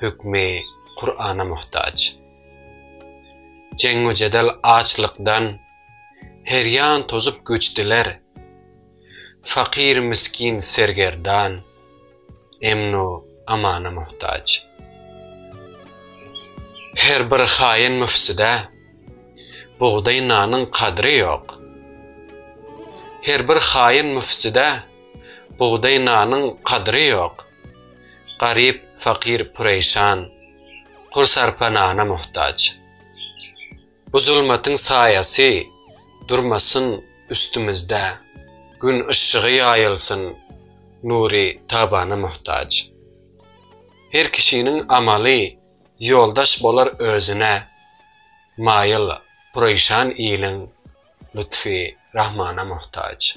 hökmi Kur'ana muhtaç. Jeňňu-jedel açlykdan her ýan tozup göçdiler. Fakyr-miskin sergerdan emnu amana muhtaç. Her bir haýyn-müfsüde bugdaý nanyň kadry ýok. Her bir haýyn-müfsüde bugdaý nanyň kadry ýok. Garyp, fakyr pureýşan, Kur sarpa nana muhtaç. Bu zulmatyň saýasy Durmasyn üstümizde, Gün yşşygy ýaýylsyn, Nury tabana muhtaç. Her kişiniň amaly Ýoldaş bolar özüne, Maýyl, pureýşan iliň Lutfy rahmana muhtaç.